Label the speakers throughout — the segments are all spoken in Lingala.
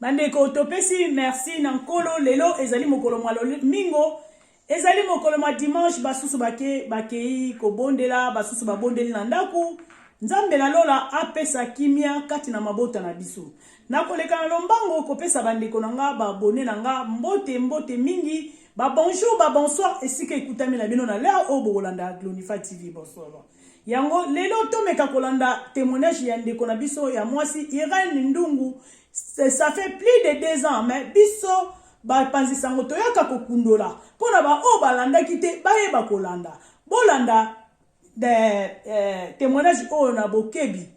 Speaker 1: bandeko topesi merci na nkolo lelo ezali mokolo mwa lomingo ezali mokolo mwa dimanche basusu bake bakei kobondela basusu babondeli na ndako nzambe na lola apesa kimia kati na mabota na biso nakoleka na lombango kopesa bandeko na nga babone na nga mbote mbote mingi ba bonjour ba bonsoir esika ekutami na bino na leo oyo bokolanda glonifa tv bonsoir Yango lelo tomeka kolanda temoignage ya ndeko na biso ya mwasi Irene Ndungu. Ça fait plus de deux ans mais biso bapanzi sango toyaka kokundola mpo na baoyo balandaki te bayeba kolanda bolanda eh, eh, temoignage oyo na bokebi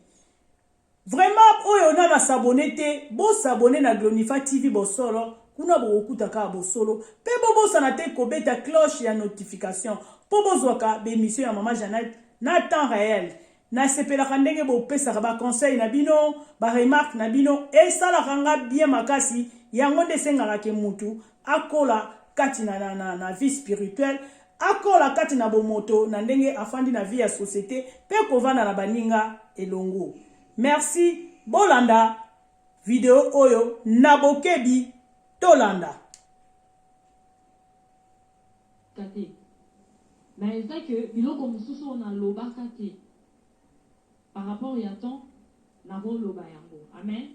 Speaker 1: Vraiment oyo na ba s'abonner te bo s'abonner na glonifa TV bosolo kuna bokokuta kaka bosolo pe bobosana te kobeta cloche ya notification po bozwaka b'emission ya maman Jeannette na temps reel nasepelaka ndenge bopesaka ba conseil na bino ba remarque na bino esalaka nga bien makasi yango nde esengaka ke mutu akola kati na vie spirituel Akola kati na bomoto na ndenge afandi na vie ya societe pe kovanda na baninga elongo. Merci bolanda video oyo na bokebi tolanda. Tate.
Speaker 2: Mais il fait que biloko mosusu oyo nalobaka te par rapport ya temps nakoloba yango amen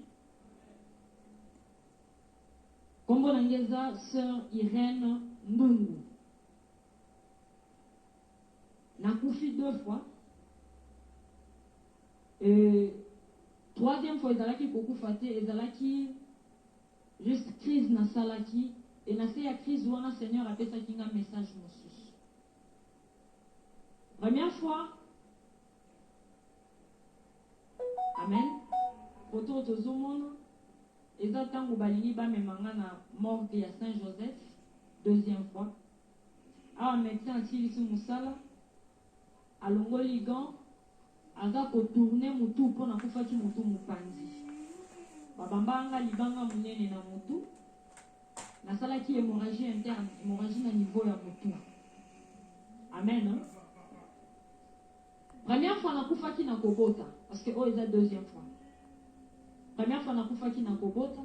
Speaker 2: Kombo na nga eza soeur Irène Ndungu. Na kufi deux fois euh troisième fois ezalaki ko kufa te ezalaki juste crise na salaki et na se ya crise wana seigneur apesaki nga message mosusu. Première fois Amen photo oyo tozo mona. Eza tangu balingi bamema nga na morgue ya Saint Joseph deuxième fois awa medecin asilisi musala alongoli gant aza ko tourner mutu po nakufaki mutu mupanzi babambaka nga libanga munene na mutu nasalaki hemorragie interne hemorragie na niveau ya mutu amen. Première fois na kufaki na kobota parce que oyo eza deuxième fois première fois na kufaki na kobota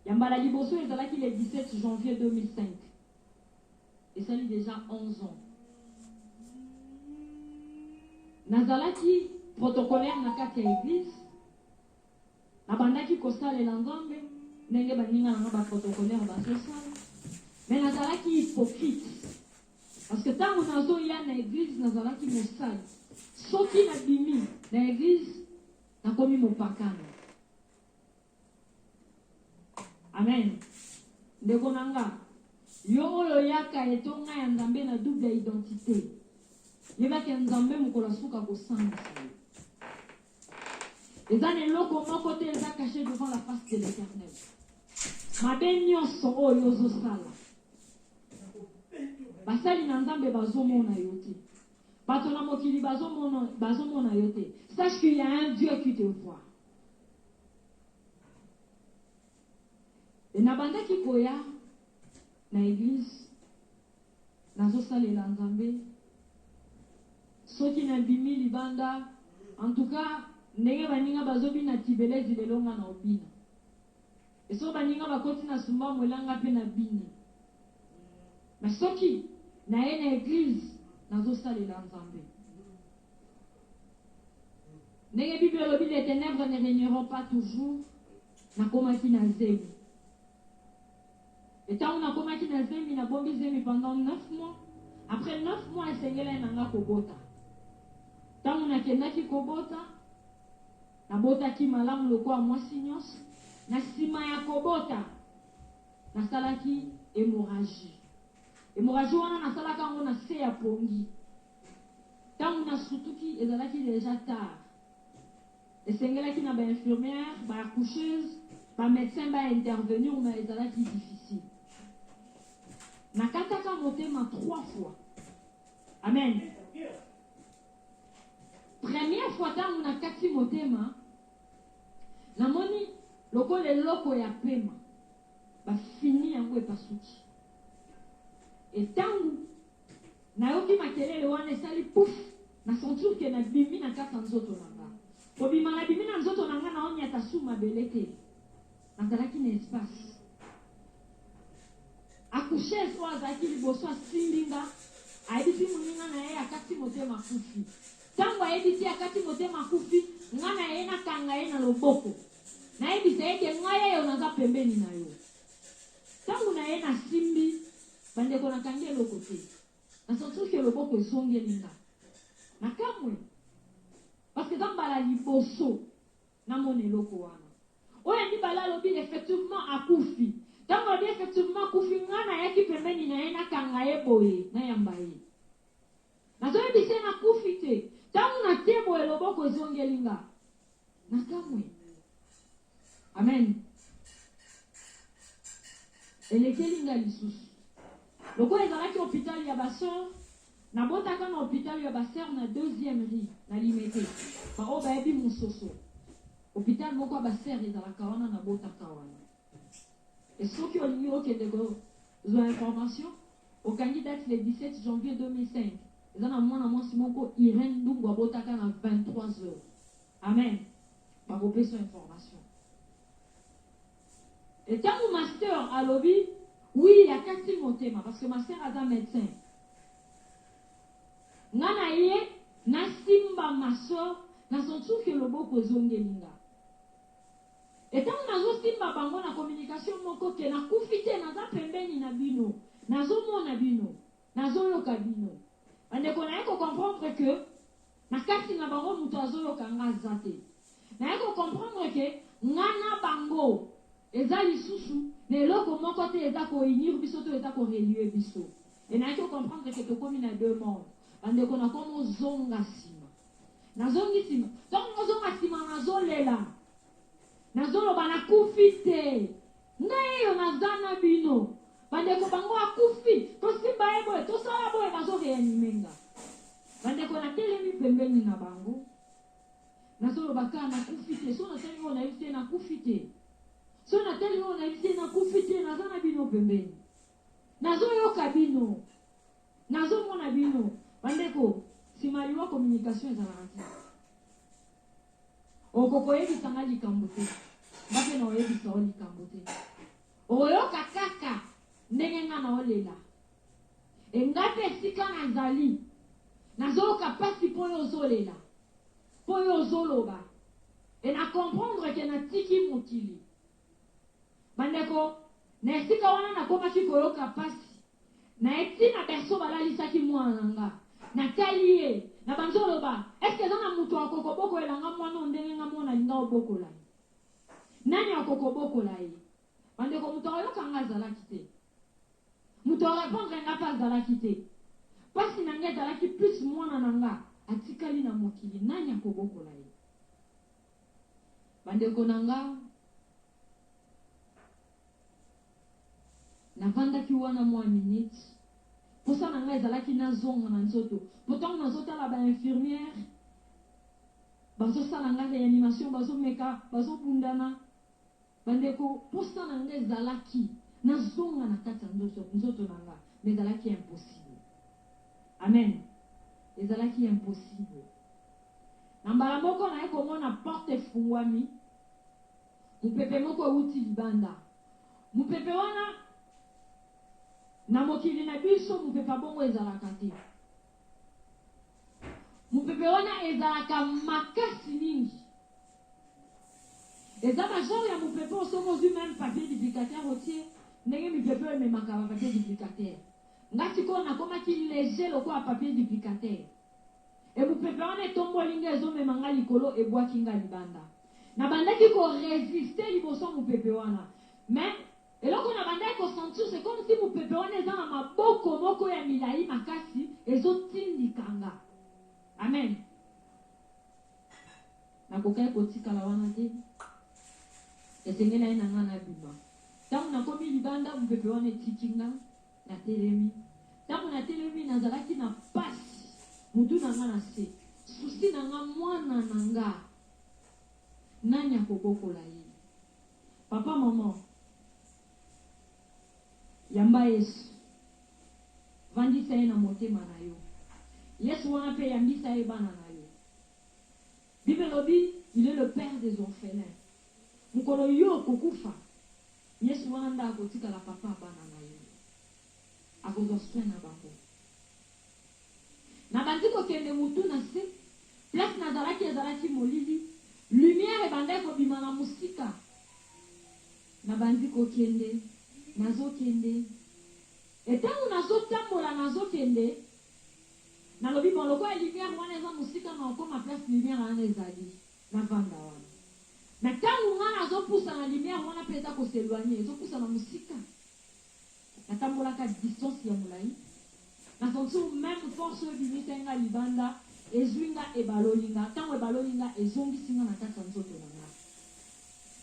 Speaker 2: ya mbala liboso ezalaki le 17 janvier 2005 esali dejà 11 ans nazalaki protocolaire na kati ya eglise nabandaki kosalela nzambe ndenge baninga na nga ba protocolaire bazosala me nazalaki hypocrite Parce que tango nazo ya na eglise nazalaki mosali. Soki na bimi na eglise nakomi mopakano. Amen. Ndeko na nga, yo oyo oyaka etonga ya Nzambe na double identite, yebaki ya Nzambe mokolo asuka kosambisa yo. Eza na eloko moko te eza cache devant la face de l'Eternel. Mabe nyonso oyo ozosala basali na Nzambe bazomona yo te. Bato na mokili bazomona bazomona yo te. Sache qu'il y a un Dieu qui te voit. Et nabandaki koya na église Nazo salela nzambe soki na bimi libanda en tout cas ndenge baninga bazo bina tibelezi lelo nga nao bina et soki baninga bakoti na sumba mwela nga pe na bini mais soki naye na eglise nazo salela nzambe ndenge bible elobi les tenèbres ne regneront pas toujours nakomaki na zemi Et tangu na komaki na zemi na bombi zemi pendant neuf mois, après neuf mois esengelaki na nga kobota. Tangu na kendaki kobota, na botaki malamu lokola mwasi nionso, na sima ya kobota na salaki hemorragie. Hemorragie wana na salaka yango na se ya pongi. Tangu na sutuki ezalaki dejà tard. Esengelaki na ba infirmières, ba accoucheuses, ba medecins ba intervenir mais ezalaki difficile. Nakataka motema trois fois. Amen. Première fois tango nakati motema, namoni lokola eloko ya pema, bafini yango epasuki. Et tango Nayoki makelele wana esali puff na sentir que na bimi na kati ya nzoto na nga. Kobima na bimi na nzoto na nga nao niata sous mabele te. Nazalaki na espace. Accoucheuse oyo azalaki liboso asimbi nga ayebisi muninga na ye akati motema akufi. Tangu ayebi te akati motema akufi, nga na ye na kanga ye na loboko. Nayebisa ye ke nga yeyo naza pembeni na yo. Tangu na ye na simbi. Bandeko na kangi eloko te na sense que loboko ezongeli nga na kamue parce que eza mbala liboso na mona eloko wana oyo ya mibale alobi effectivement akufi tango alobi effectivement akufi nga na yaki pembeni na ye na kanga ye boye na yamba ye nazo yebisa ye na kufi te tango na tie boye loboko ezongeli nga na kamue Amen. Elekeli nga lisusu. Lokola ezalaki hopital ya ba sœurs, nabotaka na hopital ya ba sœurs na deuxième rue na Limete. Ba oyo bayebi Musoso, hopital moko ya ba sœurs ezalaka wana nabotaka wana. Et soki olingi okende ko zwa information, okangi date le 17 janvier 2005. Eza na mwana mwasi moko Irène Ndungu abotaka na 23 heures. Amen bakopesa information et tangu ma sœur alobi oui akati motema parce que ma sœur aza medecin nga na ye na simba ma sœur na sentir que loboko ezongeli nga et tangu nazo simba bango na communication moko que na kufi te naza pembeni na bino nazo mona bino nazo yoka bino bandeko na ye ko comprendre que Na kati na bango mutu azoyoka nga aza te. Naye ko comprendre que nga na bango eza lisusu na eloko moko te eza ko unir biso to eza ko relier biso. Et nayaki ko comprendre que tokomi na deux mondes. Bandeko nakomo zonga sima. Nazongi sima. Tango nazozonga sima nazolela. Nazoloba nakufi te. Ngai yo naza na bino. Bandeko bango akufi tosimba ye boye tosala boye bazo reanime nga bandeko na telemi pembeni na bango nazo loba ka na kufi te so na tali oyo nayebi te na kufi te so na tali oyo nayebi te na kufi te naza na bino pembeni nazo yoka bino nazo mona bino bandeko sima liwa communication ezalaka te Oko koyebisa nga likambo te. Nga pe nao yebisa yo likambo te. Okoyoka kaka ndenge nga nao lela. Et nga pe esika nazali, nazo yoka pasi po yo ozo lela. Po yo ozo loba. Et na comprendre que natiki mokili. Bandeko, na esika wana nakomaki koyoka mpasi na ye tii na berceau balalisaki mwana na nga. Natali ye, nabanzi oloba, Est-ce que eza na moto ako kobokolela nga mwana oyo ndenge nga moko nalinga obokola ye? Nani ako kobokola ye? Bandeko, moto akoyoka nga azalaki te. Moto a repondre nga pe azalaki te. Mpasi na nga ezalaki plus mwana na nga atikali na mokili, nani akobokola ye? Bandeko na nga, Navandaki wana mua minutes, posa na nga ezalaki nazonga na nzoto, po tango nazotala ba infirmières bazosala nga reanimation, bazomeka, bazobundana, Bandeko, posa na nga ezalaki na zonga na kati ya ndoto, nzoto na nga, mais ezalaki impossible. Amen! Ezalaki impossible. Na mbala moko naye komona porte efungwami, mupepe moko ewuti libanda. Mupepe wana, na mokili na biso mupepe ya bongo ezalaka te. Mopepe wana ezalaka makasi mingi. Eza ba genre ya mopepe oyo soki ozwi meme papier duplicateur otie, ndenge mipepe oyo ememaka ba papier duplicateur. Nga sikoyo nakomaki leger lokola papier duplicateur. Et mopepe wana etomboli nga ezomema nga likolo ebwaki nga libanda. Nabandaki ko resister liboso ya mopepe wana mais Eloko na bandaki ko sentir c'est comme si mupepe wana eza na maboko moko ya milayi makasi ezo tindika nga. Amen. Nakokaki kotikala wana te. Esengelaki na nga nabima. Tango nakomi libanda mupepe wana etiki nga, natelemi. Tango natelemi nazalaki na pasi, mutu na nga na se. Souci na nga mwana na nga nani akobokola ye? Papa maman yamba yesu vandisa ye na motema na yo yesu wana pe yambisa ye bana na yo bible elobi il est le père des orphelins mokolo yo okokufa yesu wana nde akotikala papa ya bana na yo. Akozwa soin na bango. Nabandi kokende mutu na se, place nazalaki ezalaki molili, lumière ebandaki kobima na mosika. Nabandi kokende, nazokende et tango nazotambola nazokende, nalobi bon lokola lumière wana eza mosika nakokoma place lumière wana ezali, navanda wana. Mais tango nga nazopusana lumière wana pe eza ko s'eloigner, ezopusana mosika. Natambolaka distance ya mulayi na voiture meme force oyo ebimisa nga libanda ezui nga ebaloli nga tango ebaloli nga ezongisi nga na kati ya nzoto na nga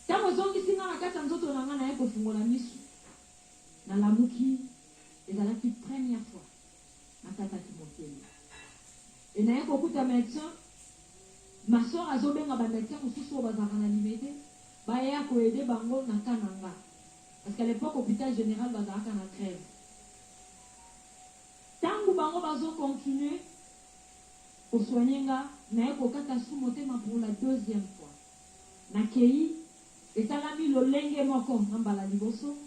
Speaker 2: tango ezongisi nga na kati ya nzoto na nga naye kofungola misu nalamuki ezalaki première fois nakataki motema et naye kokuta medecin ma soeur azobenga ba medecin mususu oyo bazalaka na limete baya ko aide bango na cas na nga. Parce qu'à l'epoque hopital general bazalaka na grève. Tangu bango bazo continuer ko soigner nga naye kokata su motema pour la deuxième fois. Nakeyi esalami lolenge moko na mbala liboso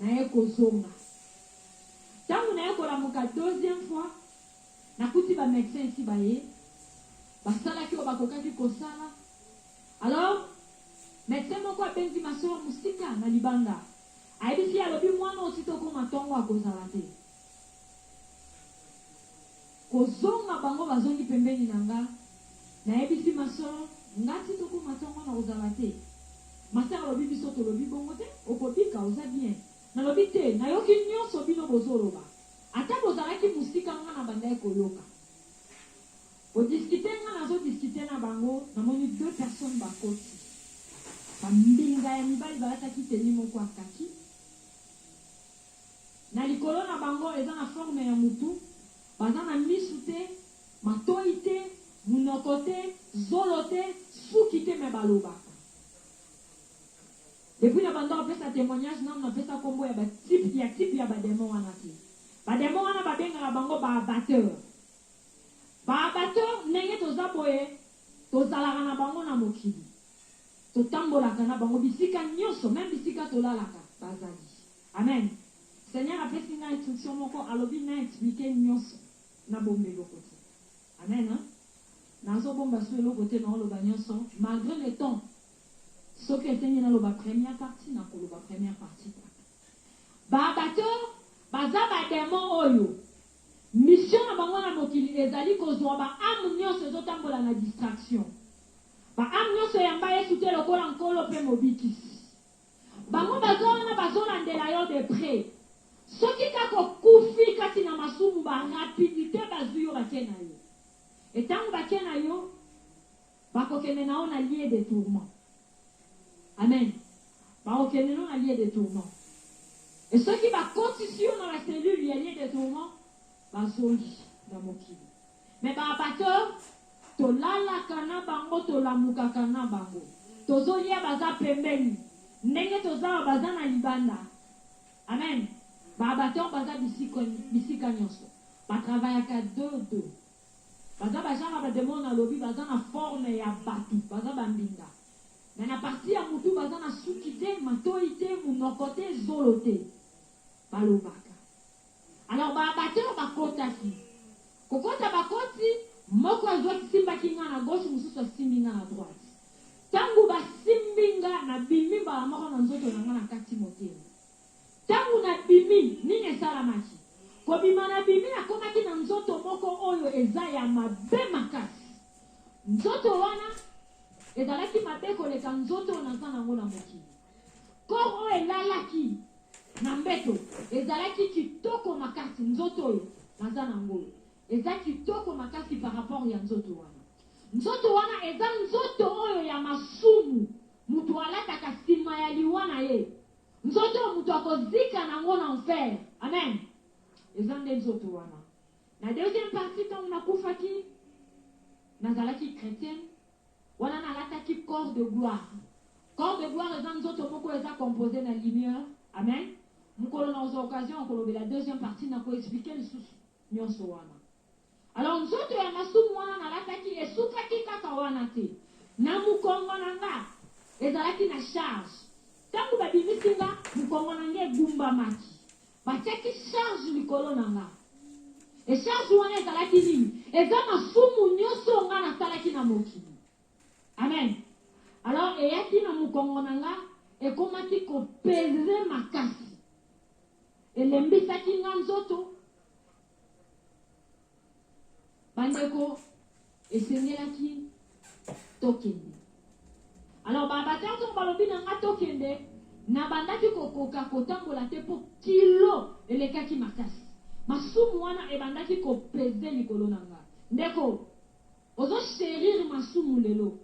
Speaker 2: naye kozonga. Tangu naye kolamuka deuxième fois nakuti ba medecins esi baye basalaki oyo bakokaki kosala. Alors medecin moko abenzi ma soeur musika na libanda ayebisi ye alobi muana oyo ti tokoma tongo akozala te kozonga bango bazongi pembeni na nga nayebisi ma soeur nga ti tokoma tongo nakozala te ma soeur alobi biso tolobi bongo te okobika oza bien nalobi te nayoki nionso bino bozoloba ata bozalaki musika nga nabandaki koyoka. Ko discuter nga nazo discuter na bango namoni deux personnes bakoti ba mbinga ya mibali balataki tenue moko ya kaki na likolo na bango eza na forme ya mutu baza na misu te matoyi te munoko te zolo te suki te mais balobaka depuis na banda kopesa temoignage nanu napesa kombo ya ba type ya type ya ba demon wana te ba demon wana babengaka bango ba abatteur. Ba bato ndenge toza boye tozalaka na bango na mokili, totambolaka na bango bisika nionso meme bisika tolalaka bazali. Amen seigneur apesi nga instruction moko alobi na explique nionso na bomba eloko te. Amen nazo bomba su eloko te nao loba nionso malgre le temps soki esengi naloba première partie nako loba première partie kaka. Ba bato baza ba demon oyo Mission na bango na mokili ezali kozua ba ame nionso ezo tambola na distraction. Ba ame nionso eyamba Yesu te lokola Nkolo mpe Mobikisi. Bango baza wana bazo landela yo de pret. Soki kaka okufi kati na masumu ba rapidite bazui yo bake na yo. Et tango bake na yo, bakokende na yo na lieu de tourment. Amen bakokende no na lieu de tourment et soki bakotisi yo na ba cellules ya lieu de tourment bazongi na mokili mais ba abateur tolalaka na bango tolamukaka na bango tozolia baza pembeni ndenge toza awa baza na libanda Amen ba abateur baza bisika nionso ba travaillaka deux deux Baza ba genre ya ba demon na lobi baza na forme ya batu baza ba mbinga mais na partie ya mutu baza na suki te matoyi te munoko te zolo te balobaka alors ba abatteur bakotaki kokota bakoti moko azua simbaki nga na gauche mususu asimbi nga na droite tangu basimbi nga na bimi mbala moko na nzoto na nga na kati motema Ntango nabimi, nini esalamaki? Kobima nabimi, nakomaki na nzoto moko oyo eza ya mabe makasi. Nzoto wana ezalaki mabe koleka nzoto oyo naza na yango na mokili. Corps oyo elalaki na mbeto ezalaki kitoko makasi, nzoto oyo naza na yango oyo eza kitoko makasi par rapport ya nzoto wana. Nzoto wana eza nzoto oyo ya masumu, mutu alataka sima ya liwa na ye. Nzoto oyo moto akozika na ngo na enfer. Amen. Eza nde nzoto wana. Na deuxième partie tango nakufaki, nazalaki chretienne, wana nalataki corps de gloire. Corps de gloire eza nzoto moko oyo eza composee na lumieur. Amen. Mokolo nakozwa occasion ya kolobela deuxième partie, nako expliquer lisusu nionso wana. Alors nzoto ya masumu wana nalataki esukaki kaka wana te. Na mokongo na nga, ezalaki na charge. Tango babimisi nga, mokongo na nga egumbamaki. Batiaki charge likolo na nga. Et charge wana ezalaki nini? Eza masumu nyoso oyo nga nasalaki na mokili. Amen! Alors eyaki na mokongo na nga, ekomaki ko peser makasi. Elembisaki nga nzoto, Bandeko, esengelaki tokende. Alors ba abateurs ntango balobi na nga tokende, nabandaki kokoka kotambola te mpo kilo elekaki makasi. Masumu wana ebandaki kopeze likolo na nga. Ndeko, ozo cherir masumu lelo.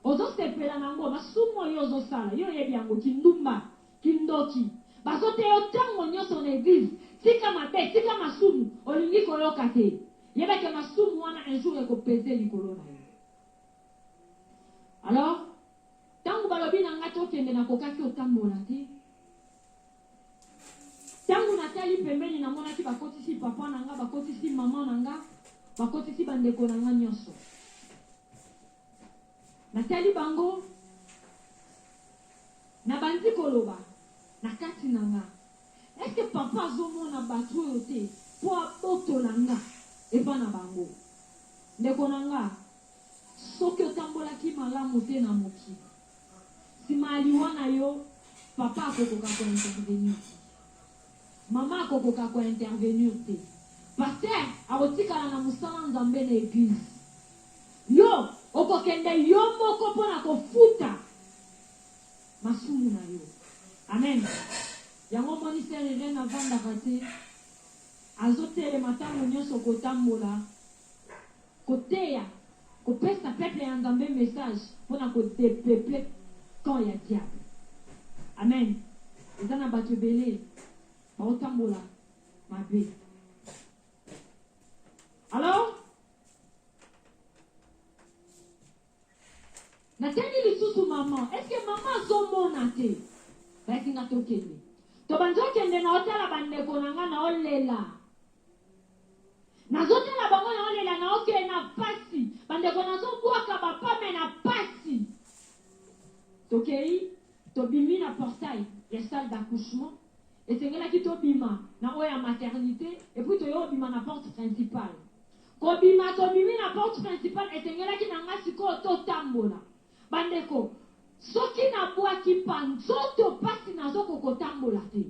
Speaker 2: Ozo sepela na ngo masumu oyo ozo sala yo oyebi yango kindumba kindoki bazo teya yo tango nioso na eglise tika mabe tika masumu olingi koyoka te yeba ke masumu wana un jour eko peze likolo na yo alors tango balobi na nga tokende na kokaki otambola te tango na tali pembeni na monaki ba kotisi papa na nga ba kotisi maman na nga ba kotisi ba ndeko na nga nioso. Natali bango, nabandi koloba na kati na nga, Est-ce que Papa azomona bato oyo te mpo abotola nga epai na bango? Ndeko na nga, soki otambolaki malamu te na mokili, sima ya liwa na yo, Papa akokoka ko intervenir te. Maman akokoka ko intervenir te. Pasteur akotikala na musala Nzambe na eglise. Yo okokende yo moko pona kofuta masumu na yo. Amen. Yango omoni sœur Irène avandaka te. Azotelema tango nionso kotambola. Koteya, kopesa peuple ya Nzambe message pona ko depeupler camp ya diable. Amen eza na batu ebele bao tambola mabe alors Na tangi lisusu maman est ce que maman azo mona te? Bayaki nga to kende. To bandi o kende nao tala ba ndeko na nga nao lela. Nazo tala bango nao lela nao ke na pasi. Ba ndeko nazo bwaka ba pas mais na pasi. To keyi to bimi na portail ya salle d'accouchement. Esengelaki to bima na oyo ya maternite et puis to yo bima na porte principale. Kobima tobimi na porte principale etengelaki na nga sikoyo to tambola ba ndeko soki na bwaki pas nzoto pasi nazo ko ko tambola te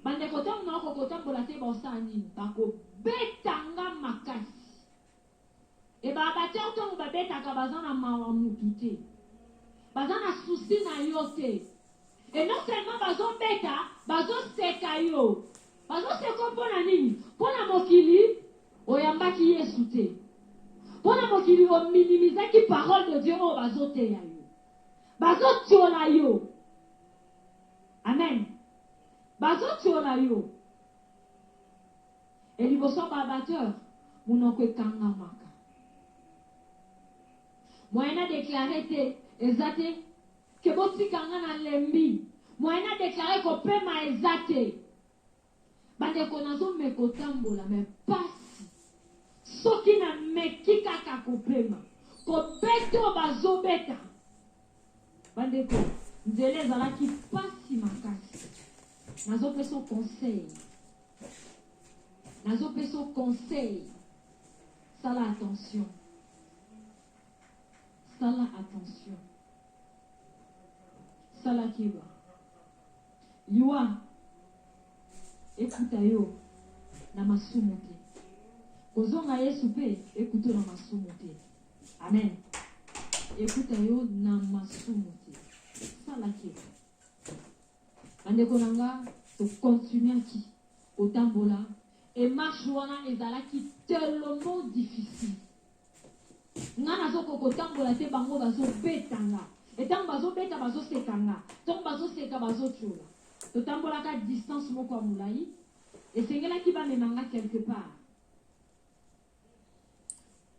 Speaker 2: ba ndeko tango nao ko ko tambola te bao sala nini ba ko beta nga makasi et ba abateur tango ba betaka baza na mawa mutu te baza na souci na yo te et non seulement bazo beta bazo seka yo Bazo seko mpo na nini? Mpo na mokili oyambaki Yesu te. Mpo na mokili o minimizaki parole de Dieu oyo bazo teya yo. Bazo tiola yo. Amen. Bazo tiola yo. Et liboso ya ba batteur, monoko ekangamaka. Moyen na declare te, eza te. Que botika nga na lembi. Moyen na declare ko pema eza te ba ndeko nazo meka kotambola mais pasi soki na meki kaka ko pema ko beta oyo bazo beta ba ndeko nzela ezalaki pasi makasi nazo peso conseil nazo peso conseil sala attention Sala attention sala keba liwa ekuta yo na masumu te kozonga yesu pe ekuto na masumu te amen ekuta yo na masumu te sala keba bandeko na nga tokontinuaki kotambola emarche wana ezalaki tellement difficile Nga nazo ko kotambola te bango bazo beta nga et tango bazo beta bazo seka nga tango bazo seka bazo tshola totambolaka distance moko ya molayi esengelaki bamema nga quelque part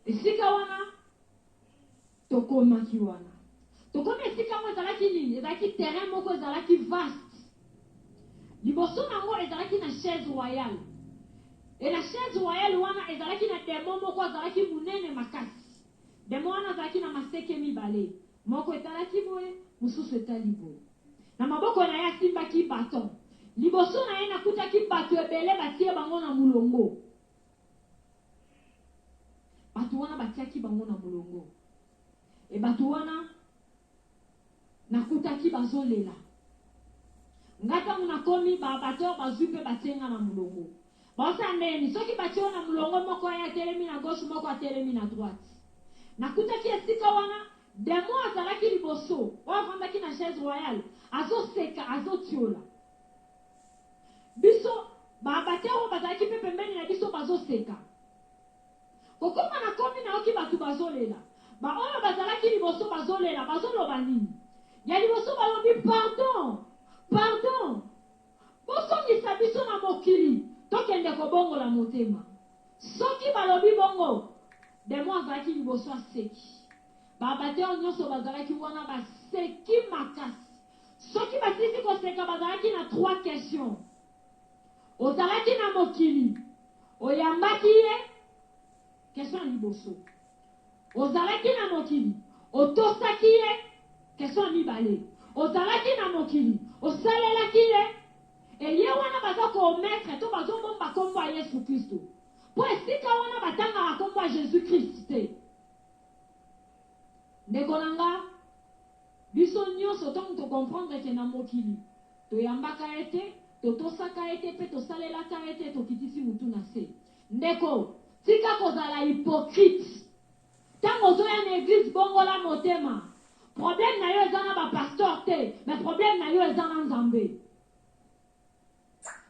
Speaker 2: esika wana tokomaki wana tokomi esika yango ezalaki nini ezalaki terrain moko ezalaki vaste Liboso na yango ezalaki na chaise royale, et na chaise royale wana ezalaki na demon moko azalaki munene makasi. Demon wana azalaki na maseke mibale, moko etalaki boye, mosusu etali boye. Na maboko na ye asimbaki baton. Liboso na ye nakutaki batu ebele batie bango na mulongo. Batu wana batiaki bango na mulongo. Et batu wana. Nakutaki bazo lela nga tango nakomi ba batteur bazui pe batie nga na mulongo bao sala ndenge nini soki batie yo na mulongo moko aya atelemi na gauche moko atelemi na droite nakutaki esika wana demon azalaki liboso oyo avandaki na chaise royale azo seka azo tiola biso ba batteur oyo bazalaki pe pembeni na biso bazo seka Kokoma na komi nayoki batu bazolela ba oyo bazalaki liboso bazolela bazoloba nini ya liboso balobi pardon pardon bosongisa biso na mokili tokende kobongola motema soki balobi bongo demon azalaki liboso aseki ba batteur nionso bazalaki wana baseki makasi soki basilisi koseka bazalaki na trois question Ozalaki na mokili, oyambaki ye, question ya liboso. Ozalaki na mokili, otosaki ye, question ya mibale. Ozalaki na mokili, osalelaki ye, eye wana baza ko omettre to bazo bomba kombo ya Yesu Klisto. Po esika wana batangaka kombo ya Jesus Christ te. Ndeko na nga. Biso nionso tango to comprendre ke na mokili toyambaka ye te, totosaka ye te pe tosalelaka ye te tokitisi mutu na se. Ndeko tika kozala hypocrite tango ozoya na eglise bongola motema problème na yo eza na ba pasteur te mais problème na yo eza na nzambe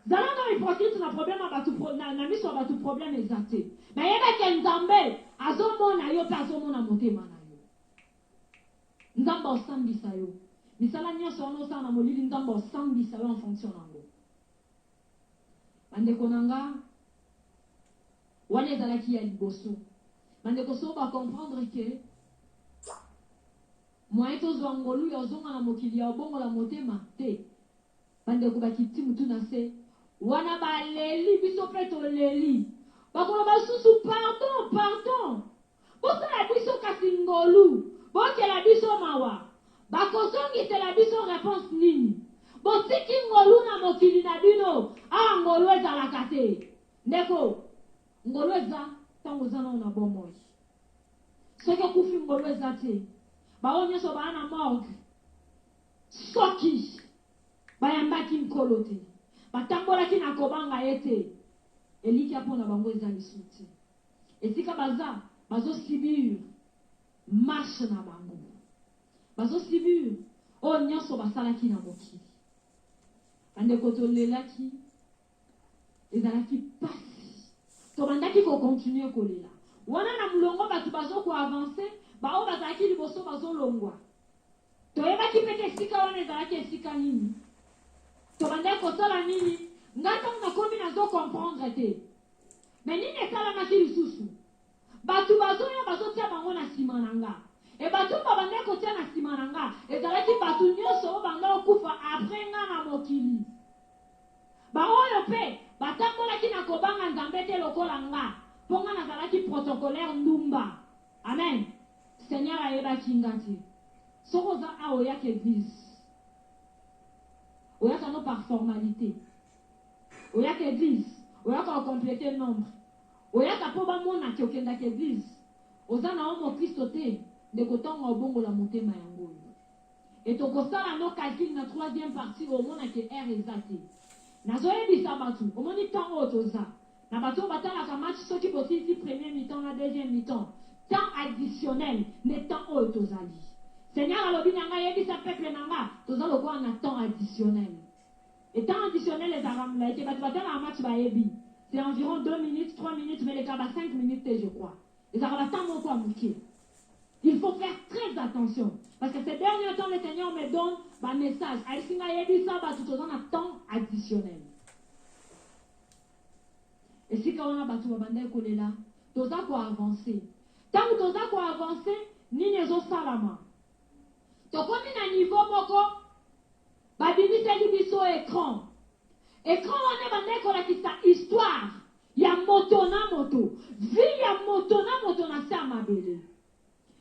Speaker 2: zala no hypocrite na problème ya batu na miso ya batu problème eza te mais yeba ke nzambe azomona yo pe azomona motema na yo. Nzambe asambisa yo. Misala nionso wana osala na molili Nzambe asambisa yo en fonction na yango. Ba ndeko na nga, wana ezalaki ya liboso. Ba ndeko soki ba comprendre que moyen tozua ngolu ya ozonga na mokili ya obongola motema, te. Bandeko bakiti mutu na se wana baleli, biso pe toleli. Bakoloba lisusu pardon, pardon. Bosala biso kasi ngolu, boyokela biso mawa. Bakozongisela biso reponse nini? Botiki ngolu na mokili na bino, awa ngolu ezalaka te. Ndeko, ngolu eza tango oza nanu na bomoi. Soki okufi ngolu eza te. Baoyo nionso baya na morgue. Soki bayambaki Nkolo te, batambolaki na kobanga Ye te, elikya mpo na bango eza lisusu te. Esika baza, bazo subir marche na bango. Bazo subir oyo nionso basalaki na mokili. Bandeko, tolelaki. Ezalaki pasi. Tobandaki ko continuer kolela. Wana na mulongo batu bazo ko avancer, ba oyo bazalaki liboso bazo longwa. Toyebaki pe te esika wana ezalaki esika nini. Tobandaki kosala nini? Nga tangu nakomi nazo comprendre te. Mais nini esalamaki lisusu? Batu bazoya bazotia bango na sima na nga et batu oyo babandaki kotia na sima na nga ezalaki batu nionso oyo banda kokufa après nga na mokili. Ba oyo pe batambolaki na kobanga Nzambe te lokola nga po nga nazalaki protocolaire ndumba. Amen. Seigneur ayebaki nga te. Soki oza awa oyaka eglise, oyaka no par formalite. Oyaka eglise, oyaka ko completer nombre. Oyaka po ba mona ke okendaka eglise? Oza na omo Kristo te ndeko tonga obongola motema yango oyo et oko sala no calcul na troisième partie oyo omona ke heure eza te nazo yebisa batu omoni temps oyo toza na batu oyo batalaka match soki bosilisi premier mi-temps na deuxième mi-temps temps additionnel nde temps oyo tozali seigneur alobi na nga yebisa peuple na nga toza lokola na temps additionnel Et temps additionnel ezalaka mulayi te, batu batalaka match bayebi, c'est environ deux minutes, trois minutes mais elekaka ba cinq minutes te je crois, ezalaka ba temps moko ya mukie. Il faut faire très attention parce que ces derniers temps le Seigneur me donne ba messages, ayebisi ngai yebisa batu toza na temps additionnel. Esika wana batu babandaki kolela, toza ko avancer, tangu toza ko avancer nini ezosalama? Tokomi na niveau moko Babimisaki biso ecran. Ecran wana ebandaki kolakisa histoire ya moto na moto, vie ya moto na moto na se ya mabele.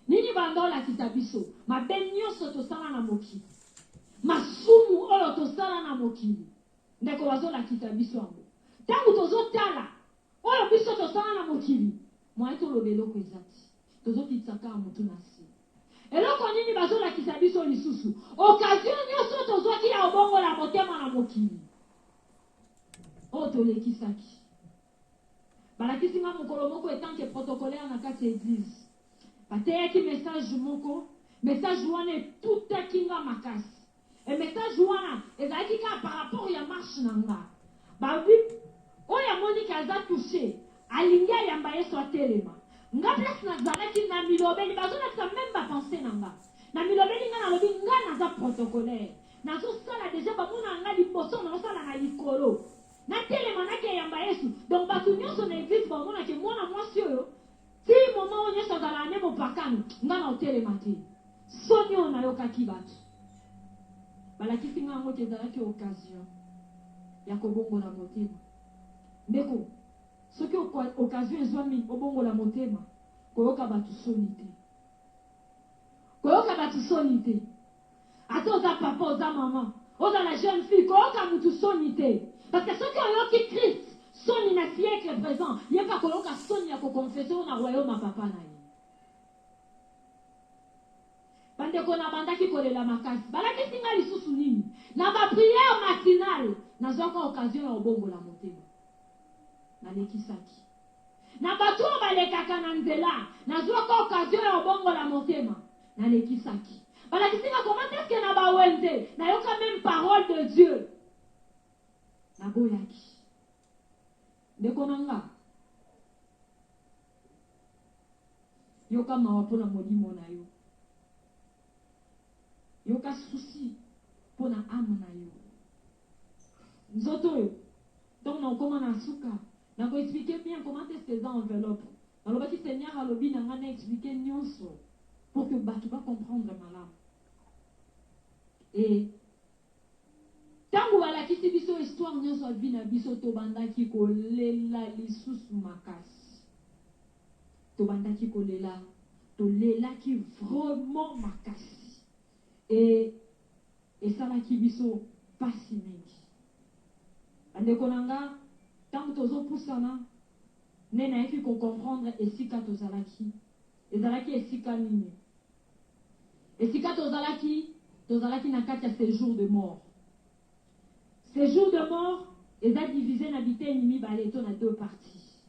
Speaker 2: Nini ebanda olakisa biso? Mabe nionso tosala na mokili. Masumu oyo tosala na mokili. Ndeko bazolakisa biso yango. Tango tozotala oyo biso tosala na mokili, moyen toloba eloko eza te. Tozokitisa kaka mutu na se. Eloko nini bazo lakisa biso lisusu? Occasion nioso tozwaki ya obongola motema na mokili oyo tolekisaki. Balakisi nga mokolo moko etant que protocolaire na kati ya eglise. Bateyaki message moko, message wana etutaki nga makasi. Et message wana ezalaki kaka par rapport ya marche na nga. Ba oui oyo amoni que aza touche alingi ayamba yesu atelema. Nga place na zalaki na milobeli bazo lakisa meme ba pensee na nga. Na milobeli nga nalobi nga naza protocolaire nazo sala dejà ba monaka nga liboso nazo sala na likolo. Na telema na ke yamba yesu donc batu nionso na eglise ba omona ke mwana mwasi oyo Ti moment oyo nionso azalaka nde mopakano nga nao telema te soni oyo nayokaki batu balakisi nga yango te ezalaki occasion yako bongola motema ndeko soki occasion ezwami obongola motema koyoka batu soni te koyoka batu soni te Ata oza papa oza maman ozala jeune fille koyoka mutu soni te parce que soki oyoki Christ soni na siecle present ye pe akoyoka soni ya ko confesse yo na royaume ya papa na ye ba ndeko na bandaki kolela makasi balakisi ngai lisusu nini na ba prière matinale nazwaka occasion ya obongola motema nalekisaki Na bato oyo balekaka na nzela, nazwaka occasion ya kobongola motema. Nalekisaki. Balakisi nga comment est-ce que na ba wenze, nayoka meme parole de Dieu. Naboyaki. Ndeko na nga, yoka mawa mpo na molimo na yo. Yoka souci mpo na ame na yo. Nzoto oyo tango nakokoma na suka nako expliquer bien comment est-ce que eza enveloppe. Nalobaki Seigneur alobi na ngai na expliquer nionso pour que batu ba comprendre malamu. Et tango balakisi biso histoire nionso ya vie na biso, tobandaki kolela lisusu makasi. Tobandaki kolela, tolelaki vraiment makasi. E, esalaki biso pasi mingi. Bandeko na nga, tango tozo pusana, nde nayaki ko comprendre esika tozalaki. Ezalaki esika nini? Esika tozalaki, tozalaki na kati ya sejour de mort. Ce jour de mort eza divise na biteni mibale to na deux parties.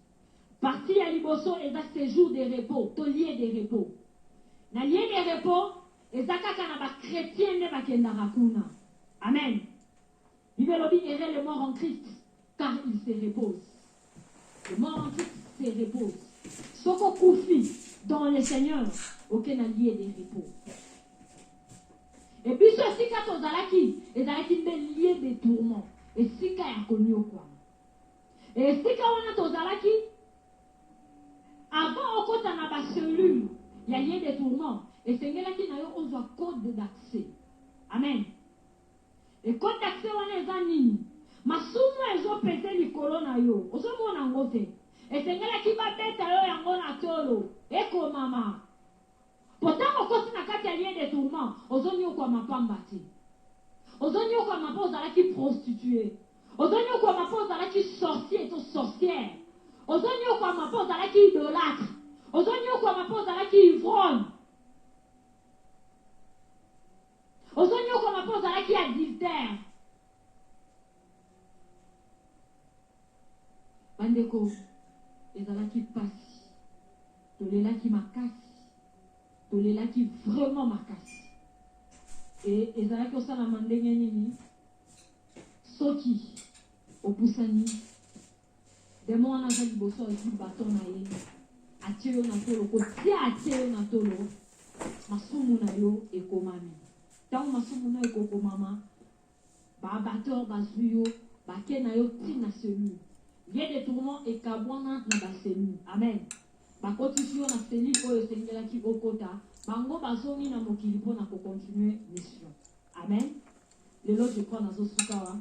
Speaker 2: Partie ya liboso eza ce jour de repos to lieu de repos. Na lieu de repos eza kaka na ba chretiens nde bakendaka kuna. Amen. Bible elobi heureux le mort en Christ car il se repose. Mort se repose. Soki okufi dans le Seigneur, oke na lieu de repos. Et biso esika tozalaki ezalaki nde lieu de tourment, esika ya konyokwama. Esika wana tozalaki avant okota na ba cellules ya lieu de tourment, esengelaki na yo ozwa code d'accès. Amen. Ecotaxe wana eza nini? Masumu ezo pese likolo na yo ozo mona yango te? Esengelaki ba beta yo yango na tolo ekomama po tango okoti na kati ya lien de tourment ozo niokwama pamba te. Ozo niokwama po ozalaki prostitue, ozo niokwama po ozalaki sorcier to sorciere, ozo niokwama po ozalaki idolatre, ozo niokwama po ozalaki ivrogne. Ozo niokwama po ozalaki adulter. Bandeko ezalaki pasi tolelaki makasi tolelaki vraiment makasi et ezalaki osalama ndenge nini soki opusani Demon wana aza liboso azwi baton na ye atie yo na tolo kotia atie yo na tolo masumu na yo ekomami ntango masumu na yo ekokomama baabateur bazwi yo bake na yo ti na cellule vie de tourment ekabwana na bacellule amen bakotisi yo na cellule oyo esengelaki okota bango bazongi na mokili mpo na kocontinue mission amen lelo je crois nazosukawa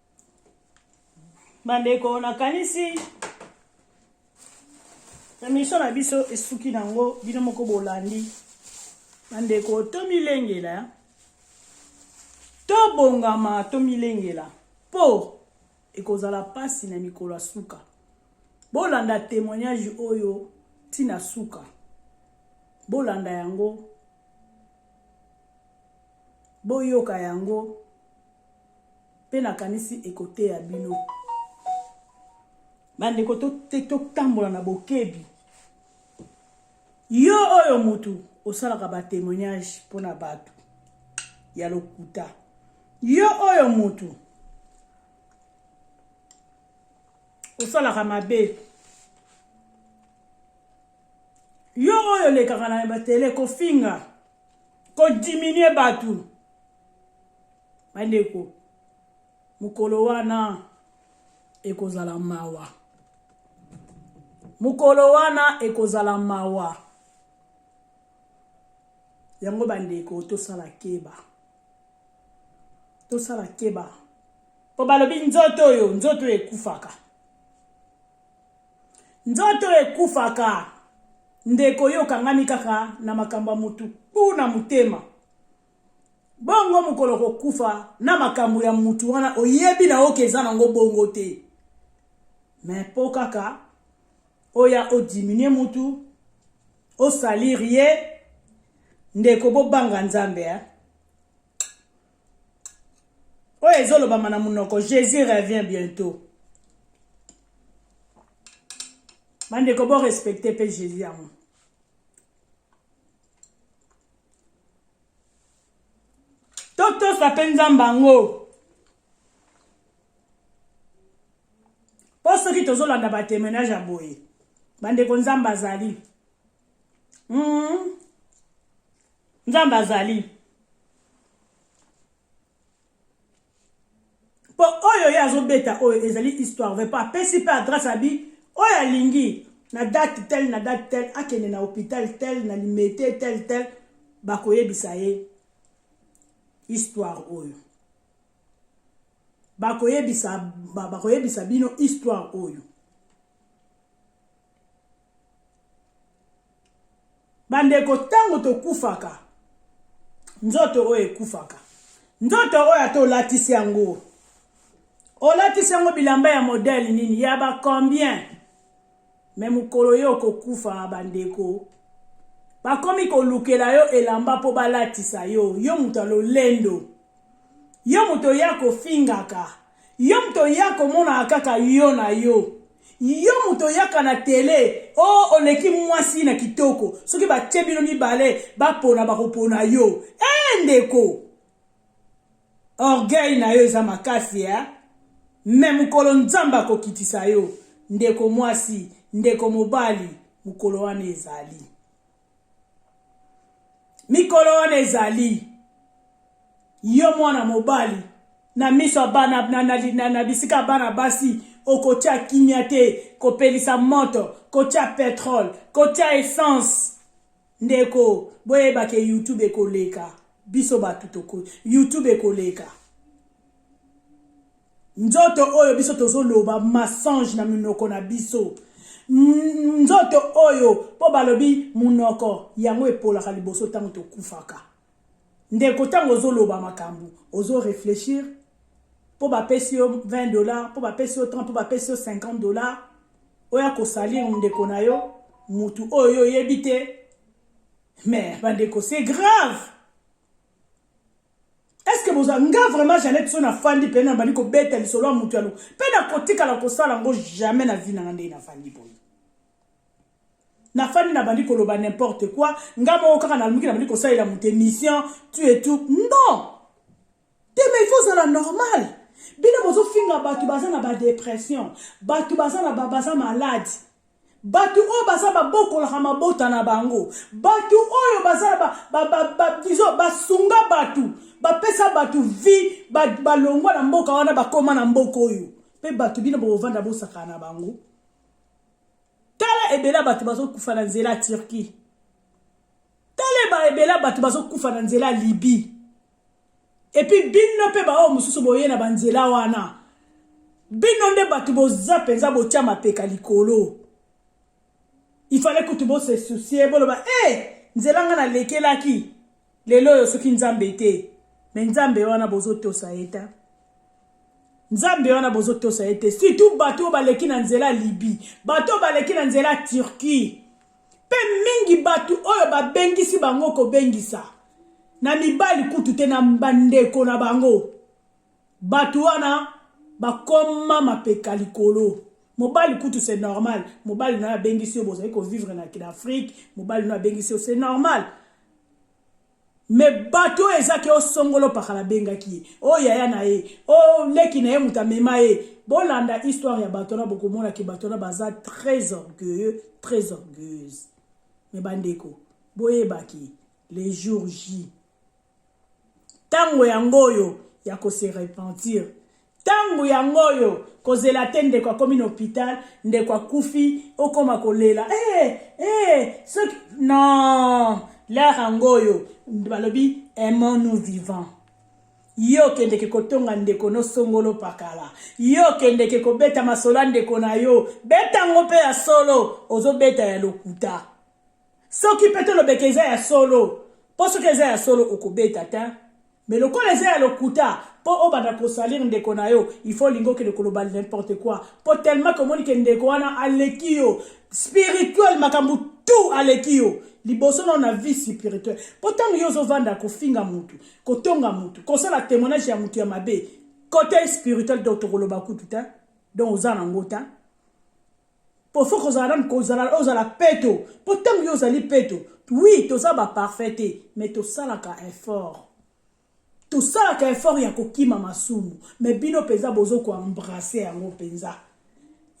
Speaker 1: bandeko nakanisi emission na biso esuki nango bino moko bolandi bandeko tomilengela tobongama tomilengela mpo ekozala mpasi na mikolo ya suka bolanda témoignage oyo ntina suka bolanda yango boyoka yango mpe nakanisi ekoteya bino bandeko totambola to na bokebi yo oyo motu osalaka batemoignage mpo na bato ya lokuta yo oyo motu osalaka mabe yo oyo olekaka na batele kofinga kodiminue bato Bandeko, mokolo wana ekozala mawa. Mokolo wana ekozala mawa. Yango bandeko tosala keba. Tosala keba. Po balobi nzoto oyo, nzoto oyo ekufaka. Nzoto oyo ekufaka. Ndeko yo okangami kaka na makambo ya mutu, kuna motema. bongo mokolo kokufa na makambo ya mutu wana oyebi na oke eza nango bongo te me mpo kaka oya odiminue mutu osalir ye ndeko bobanga nzambe eh? oyo ezolobama na monoko jésus revient bientôt bandeko borespecte mpe jésus yango totosa mpe nzambe yango mpo soki tozolanda batemenage ya boye bandeko nzambe azali mm. nzambe azali mpo oyo ye azobeta oyo ezali histoire vrai mpo apesi mpe adresse abi oyo alingi na date tel na date tel akende na hôpital tel na limete tel tel bakoyebisa ye histoire oyo bakoyebisa bakoyebisa bino histoire oyo Bandeko, ntango tokufaka, nzoto oyo ekufaka. Nzoto oyo ata olatisi yango, olatisi yango bilamba ya modele nini, ya ba combien, me mokolo yo okokufa, bandeko, bakomi kolukela yo elamba mpo balatisa yo, yo moto ya lolendo, yo moto oya kofingaka, yo moto oya komonaka kaka yo na yo. Yo mutu oyaka na tele oh oleki mwasi na kitoko soki batie bino mibale ba pona bako pona yo eh ndeko orgueil nayo eza makasi eh mais mukolo nzambe ako kitisa yo ndeko mwasi ndeko mobali mukolo wana ezali. mikolo wana ezali yo mwana mobali na miso ya bana na, na, na, na bisika ya bana basi okotya kimia te kopelisa moto kotya petrole kotya essence ndeko boyeba ke youtube ekoleka biso bato toko youtube ekoleka Nzoto oyo biso tozo loba mensonge na minoko na biso. Nzoto oyo po balobi munoko yango epolaka liboso tango tokufaka. Ndeko tango ozo loba makambu ozo reflechir po ba pesi yo 20 dollars, po ba pesi yo 30, po ba pesi yo 50 dollars oya ko salir ndeko na yo mutu oyo yo oyebi te. Mais bandeko c'est grave. est-ce que boza nga vraiment Jeannette so na fandi pe na bandi ko beta lisolo ya mutu ya lo pe na kotika la kosala ngo jamais na vie na nga ndenge na fandi boye na fandi na bandi koloba n'importe quoi nga moko kaka na lumuki na bandi kosalela mutu émission tu et tout non te mais il faut zala normal bino bozofinga bato baza na badépression bato baza na baza malade Batu oyo baza babokolaka mabota na bango, batu oyo baza ba, ba, ba, ba, disons basunga batu, bapesa batu vie, ba, balongwa na mboka wana bakoma na mboka oyo, pe batu bino bokovanda bosakana na bango. Tala ebela batu bazokufa na nzela Turquie, tala ebela batu bazokufa na nzela Libye. Epuis bino pe baoyo mosusu boye na ba nzela wana bino nde batu boza penza botia mapeka likolo il fallait kutu bo se soucier boloba eh nzela nga na lekelaki lelo oyo soki nzambe te mais nzambe wana bozo tosa ye ta nzambe wana bozo tosa ye te surtout batu oyo baleki na nzela libye batu oyo baleki na nzela turquie Mpe mingi bato oyo babengisi bango kobengisa, na mibali kutu te, na bandeko na bango, bato wana bakoma mapeka likolo. Mobali kutu c'est normal, mobali na yo abengisi yo, bozali ko vivre na Afrique, mobali na yo abengisi yo, c'est normal. Mais bato oyo eza ke osongolo pakala abengaki ye oyo yaya na ye oyo leki na ye moto amema ye bolanda histoire ya bato wana bokomona ke bato wana baza très orgueilleux très orgueilleuse mais bandeko boyebaki le jour j ntango yango oyo ya kose repentir Tango yango oyo kozela te ndeko akomi na hopital ndeko akufi okoma kolela ee ee soki non l'heure yango oyo balobi aimons nous vivant yo okendeke kotonga ndeko no songolo pakala yo okendeke kobeta masolo ya ndeko na yo beta yango mpe ya solo ozobeta ya lokuta soki mpe tolobeka eza ya solo mpo soki eza ya solo okobeta te mais lokola eza ya lokuta mpo obanda kosalir ndeko na yo il faut olingi okende koloba n'importe quoi mpo tellement ke omoni ke ndeko wana aleki yo spirituel makambo tout aleki yo liboso nao na vie spirituelle mpo ntango yo ozovanda kofinga motu kotonga motu kosala témoignage ya motu ya mabe kote spirituel donc tokoloba kutu te donc oza nango te po faut kozala nanu kozala ozala peto po ntango yo ozali peto oui toza ba parfait te mais tosalaka effort tosalaka effort ya kokima masumu mais bino mpenza bozo koembrasse yango mpenza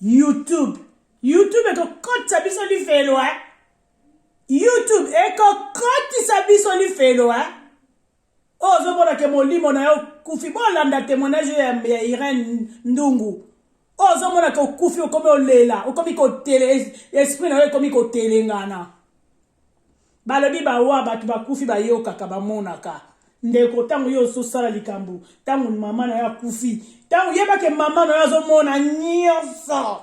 Speaker 1: youtube youtube ekokotisa biso lifelo eh? youtube ekokotisa biso lifelo eh? oyo oh, ozomona ke molimo na yo kufi bolanda témoignage ya, ya irene ndungu oyo oh, ozomona ke okufi okomi olela okomi kotele esprit na yo ekomi kotelengana balobi bawa bato bakufi bayokaka bamonaka ndeko ntango yo ozosala likambo ntango mama na yo akufi ntango yebake mama na yo azomona nyonso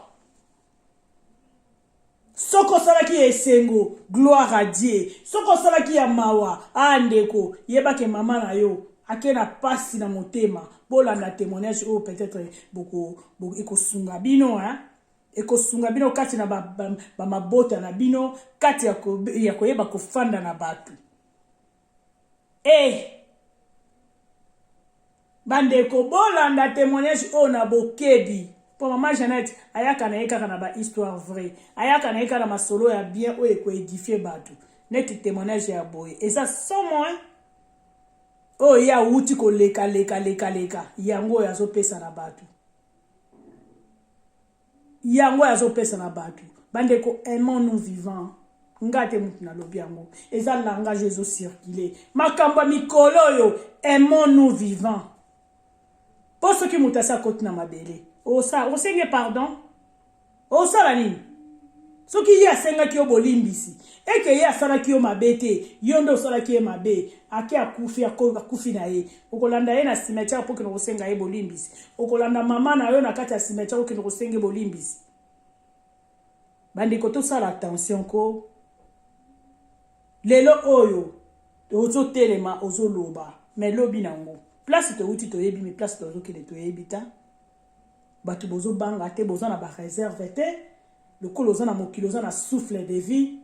Speaker 1: soki osalaki ya esengo gloire à dieu soki osalaki ya mawa a ndeko yeba ke mama na yo ake na pasi na motema bolanda témoignage oyo peut-être boko, boko ekosunga bino hein ekosunga bino kati na bamabota ba, ba na bino kati ya, ko, ya koyeba kofanda na bato Hey! Eh! bandeko bolanda témoignage oyo na bokebi mpo mama jeannette ayaka na ye kaka na bahistoire vrai ayaka na ye kaka na masolo ya bien oyo ekoedifie bato neti témoignage ya boye eza somo oyo ye awuti koleka leka leka leka yango oyo azopesa na bato yango azo pesa na batu bandeko aimant nous vivant nga te mutu nalobi yango eza langage ezo circuler makambo ya mikolo oyo aimant nous vivant po soki moto asi akoti na mabele osenge pardon osala nini Soki ye asengaki yo bolimbisi, et que ye asalaki yo mabe te, yo nde osalaki ye mabe, ake akufi, ako, akufi na ye. Okolanda ye na cimetière mpo okende kosenga ye bolimbisi? Okolanda mama na yo na kati ya cimetière okende kosenga ye bolimbisi? Bandeko, tosala attention ko. Lelo oyo, ozotelema, ozoloba, mais lobi na yango. Place towuti toyebi, mais place tozokende toyebi ta. batu bozo banga te boza na ba reserve te lokola oza na mokili oza na souffle de vie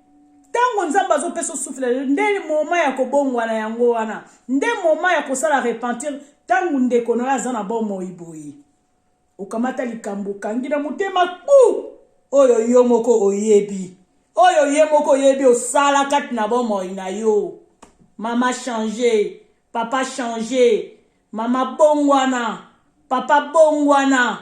Speaker 1: ntango nzambe azopesa osufela lelo nde moma ya kobongwana yango wana nde moma ya kosala repentir ntango ndeko na yo aza na bomoi boye okamata likambo okangi na motema kpu oyo yo moko oyebi oyo ye moko oyebi osala kati na bomoi na yo mama change papa change Mama bongwana, papa bongwana,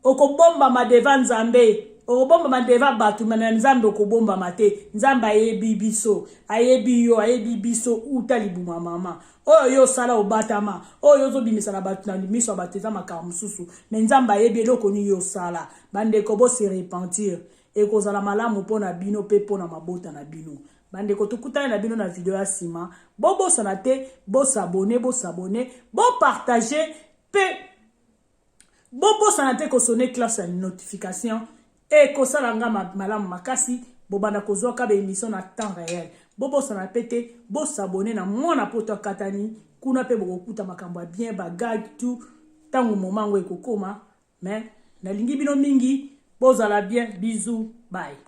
Speaker 1: okobombama devant Nzambe, okobombama devant batu mais na Nzambe okobombama te, Nzambe ayebi biso, ayebi yo, ayebi biso uta libuma mama. Oyo yo osala obatama, oyo yo ozobimisa na batu na miso ya batu eza makambo mosusu, mais Nzambe ayebi eloko nini yo osala. Bandeko bo se repentir, ekozala malamu mpo na bino mpe mpo na mabota na bino. Bandeko tokutani na bino na video ya sima. Bobosana te bo s'abonner, bo s'abonner, bo partager pe bobosana te ko sonner classe ya notification et kosala nga malamu makasi bobanda kozwa ka ba emission na temps réel. Bobosana pe te bo s'abonner na mwana poto akatani kuna pe bokokuta makambo ya bien ba gag tout tango moment ngo ekokoma mais nalingi bino mingi bozala bien bisous bye.